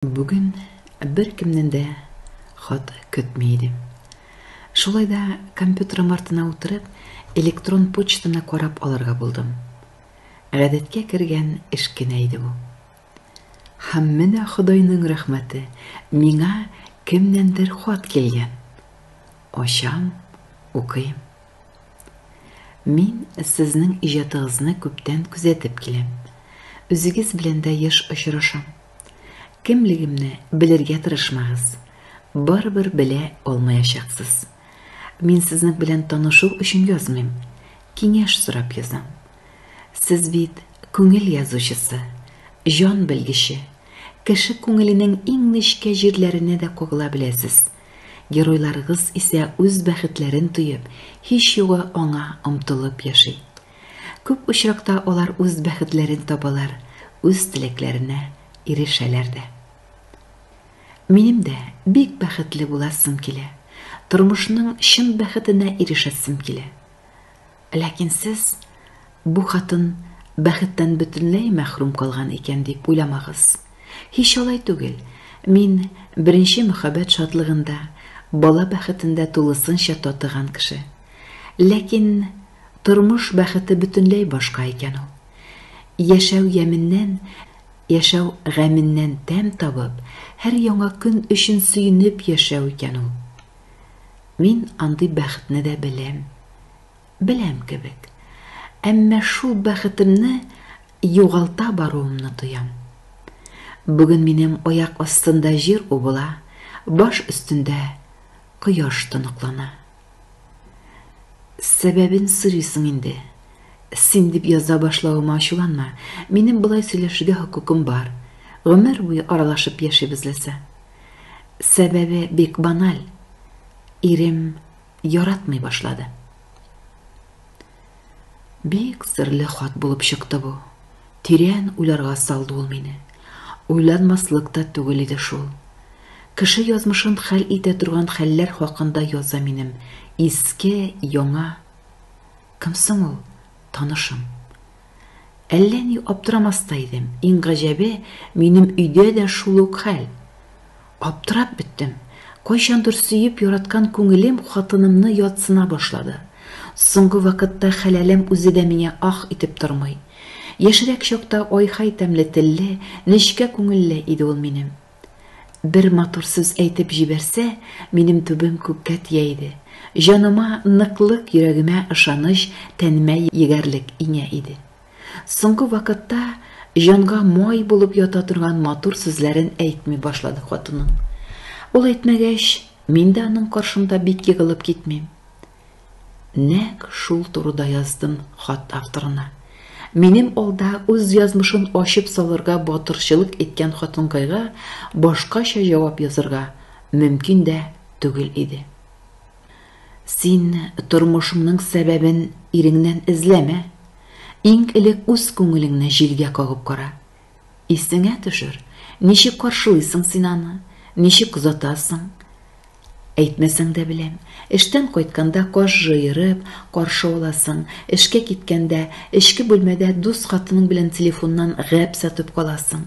Бүген беркемнән дә хат көтми идем. Шулай да компьютерым артына утырып, электрон почтаны карап алырга булдым. Гадәткә кергән эш кенә иде бу. Һәм менә Ходайның рәхмәте, миңа кемнәндер хат килгән. Ачам, укыйм. Мин сезнең иҗатыгызны күптән күзәтеп киләм. Үзегез белән дә еш очрашам. Кемлегемне белергә тырышмагыз. Барыбер белә алмаячаксыз. Мин сезнең белән танышу өчен язмыйм. Киңәш сорап язам. Сез бит күңел язучысы, җан белгече. Кеше күңеленең иң нечкә җирләренә дә кагыла беләсез. Геройларыгыз исә үз бәхетләрен тоеп, һич югы аңа омтылып яши. Күп очракта алар үз бәхетләрен табалар, үз теләкләренә ирешәләр дә. Минем дә бик бәхетле буласым килә, тормышның чын бәхетенә ирешәсем килә. Ләкин сез бу хатын бәхеттән бөтенләй мәхрүм калган икән дип уйламагыз. Һич алай түгел. Мин беренче мөхәббәт шатлыгында, бала бәхетендә тулысынча татыган кеше. Ләкин Тормыш бәхете бөтенләй башка икән ул. Яшәү яменнән, яшәү гаменнән тәм табып, һәр яңа көн өчен сөенеп яшәү икән ул. Мин андый бәхетне дә беләм. Беләм кебек. Әмма шул бәхетемне югалта баруымны тоям. Бүген минем аяк астында җир убыла, баш өстендә кояш тоныклана. Сәбәбен сорыйсың инде. Син дип яза башлавыма ачуланма. Минем болай сөйләшергә хокукым бар. Гомер буе аралашып яшибез ләсә. Сәбәбе бик баналь. Ирем яратмый башлады. Бик серле хат булып чыкты бу. Тирән уйларга салды ул мине. Уйланмаслык та түгел иде шул. Кеше язмышын хәл итә торган хәлләр хакында яза минем иске, яңа. Кем соң ул? Танышым. Әллә ни аптырамас та идем. Иң гаҗәбе, минем өйдә дә шул ук хәл. Аптырап беттем. Кайчандыр сөеп яраткан күңелем хатынымны ятсына башлады. Соңгы вакытта хәләлем үзе дә миңа ах итеп тормый. Яшьрәк чакта ай-хай тәмле телле, нечкә күңелле иде ул минем. Бер матур сүз әйтеп җибәрсә, минем түбәм күккә тия иде. Җаныма ныклык, йөрәгемә ышаныч, тәнемә егәрлек иңә иде. Соңгы вакытта җанга май булып ята торган матур сүзләрен әйтми башлады хатыным. Ул әйтмәгәч, мин дә аның каршында бик егылып китмим. Нәк шул турыда яздым хат авторына. Минем алда үз язмышын ачып салырга батырчылык иткән хатынкайга башкача җавап язырга мөмкин дә түгел иде. Син тормышыңның сәбәбен иреңнән эзләмә. Иң элек үз күңелеңне җилгә кагып кара. Исеңә төшер, ничек каршылыйсың син аны, ничек озатасың. Әйтмәсәң дә беләм, эштән кайтканда каш җыерып, каршы аласың, эшкә киткәндә, эчке бүлмәдә дус хатының белән телефоннан гәп сатып каласың.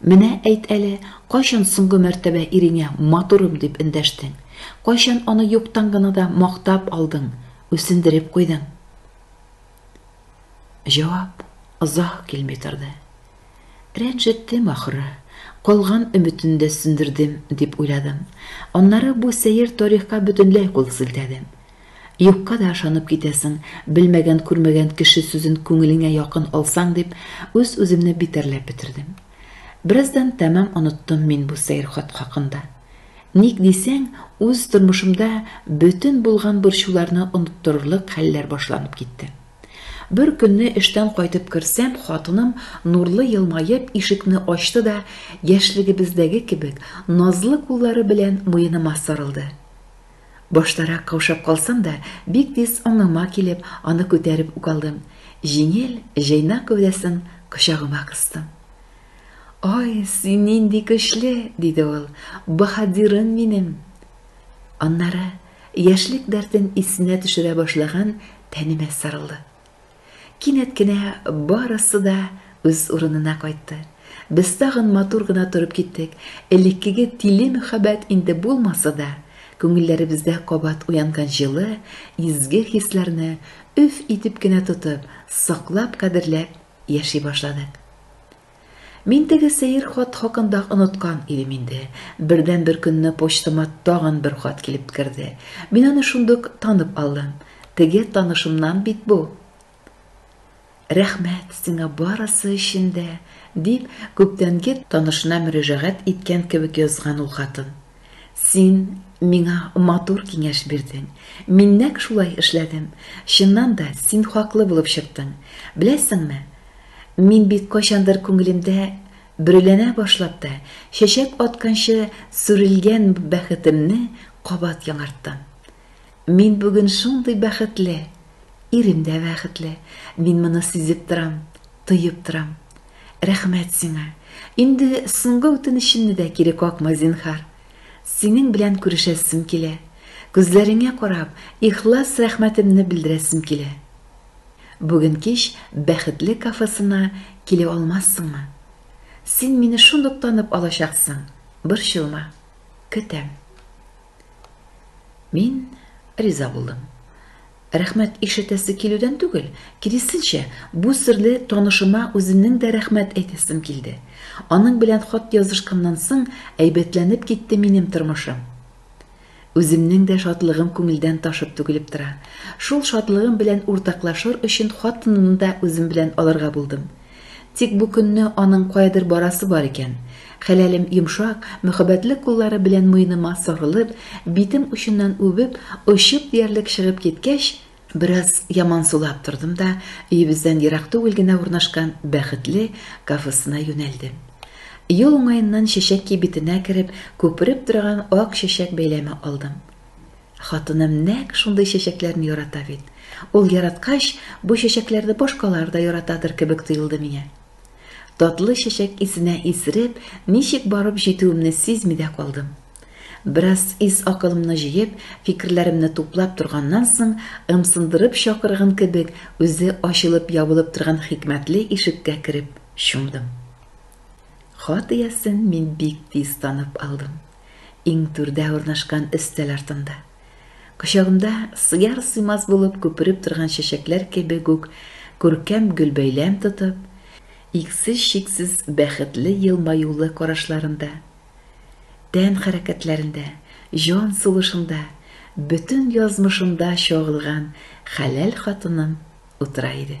Менә әйт әле, кайчан соңгы мәртәбә иреңә матурым дип эндәштең? Кайчан аны юктан гына да мактап алдың, үсендереп куйдың? Җавап озак килми торды. Рәнҗеттем, ахры, калган өметен дә сүндердем, дип уйладым. Аннары бу сәер тарихка бөтенләй кул селтәдем. Юкка да ышанып китәсең, белмәгән-күрмәгән кеше сүзен күңелеңә якын алсаң дип, үз-үземне битәрләп бетердем. Бераздан тәмам оныттым мин бу сәер хат хакында. Ник дисәң, үз тормышымда бөтен булган борчуларны оныттырырлык хәлләр башланып китте. Бер көнне эштән кайтып керсәм, хатыным, нурлы елмаеп, ишекне ачты да, яшьлегебездәге кебек, назлы куллары белән муеныма сарылды. Баштарак каушап калсам да, бик тиз аңыма килеп, аны күтәреп үк алдым. Җиңел, җайнак гәүдәсен кочагыма кыстым. Ай, син нинди көчле, диде ул, баһадирым минем. Аннары яшьлек дәртен исенә төшерә башлаган тәнемә сарылды. Кинәт кенә барысы да үз урынына кайтты. Без тагын матур гына торып киттек. Элеккеге тиле мөхәббәт инде булмаса да, күңелләребездә кабат уянган җылы, изге хисләрне өф итеп кенә тотып, саклап-кадерләп яши башладык. Мин теге сәер хат хакында оныткан идем инде. Бердәнбер көнне почтама тагын бер хат килеп керде. Мин аны шундук танып алдым. Теге танышымнан бит бу. Рәхмәт сиңа барысы өчен дә, дип, күптәнге танышына мөрәҗәгать иткән кебек язган ул хатын. Син миңа матур киңәш бирдең. Мин нәкъ шулай эшләдем. Чыннан да, син хаклы булып чыктың. Беләсеңме, мин бит кайчандыр күңелемдә бөреләнә башлап та, чәчәк атканчы сүрелгән бәхетемне кабат яңарттым. Мин бүген шундый бәхетле! Ирем дә бәхетле. Мин моны сизеп торам, тоеп торам. Рәхмәт сиңа. Инде соңгы үтенечемне дә кире какма, зинһар. Синең белән күрешәсем килә. Күзләреңә карап, ихлас рәхмәтемне белдерәсем килә. Бүген кич Бәхетле кафесына килеп алмассыңмы? Син мине шундук танып алачаксың, борчылма. Көтәм. Мин риза булдым. Рәхмәт ишетәсе килүдән түгел, киресенчә, бу серле танышыма үземнең дә рәхмәт әйтәсем килде. Аның белән хат язышканнан соң әйбәтләнеп китте минем тормышым. Үземнең дә шатлыгым күңелдән ташып түгелеп тора. Шул шатлыгым белән уртаклашыр өчен хатынымны да үзем белән алырга булдым. Тик бу көнне аның каядыр барасы бар икән. Хәләлем йомшак, мөхәббәтле куллары белән муеныма сарылып, битем очыннан үбеп, очып диярлек чыгып киткәч, бераз ямансулап тордым да өебездән ерак түгел генә урнашкан Бәхетле кафесына юнәлдем. Юл уңаеннан чәчәк кибетенә кереп, күпереп торган ак чәчәк бәйләме алдым. Хатыным нәкъ шундый чәчәкләрне ярата бит. Ул яраткач, бу чәчәкләрне башкалар да яратадыр кебек тоелды миңа. Татлы чәчәк исенә исереп, ничек барып җитүемне сизми дә калдым. Бераз ис-акылымны җыеп, фикерләремне туплап торганнан соң, ымсындырып чакырган кебек, үзе ачылып-ябылып торган хикмәтле ишеккә кереп чумдым. Хат иясен мин бик тиз танып алдым. Иң түрдә урнашкан өстәл артында. Кочагымда сыяр-сыймас булып күпереп торган чәчәкләр кебек үк күркәм гөлбәйләм тотып, иксез-чиксез бәхетле елмаюлы карашларында, тән хәрәкәтләрендә, җан сулышында, бөтен язмышында чагылган хәләл хатыным утыра иде.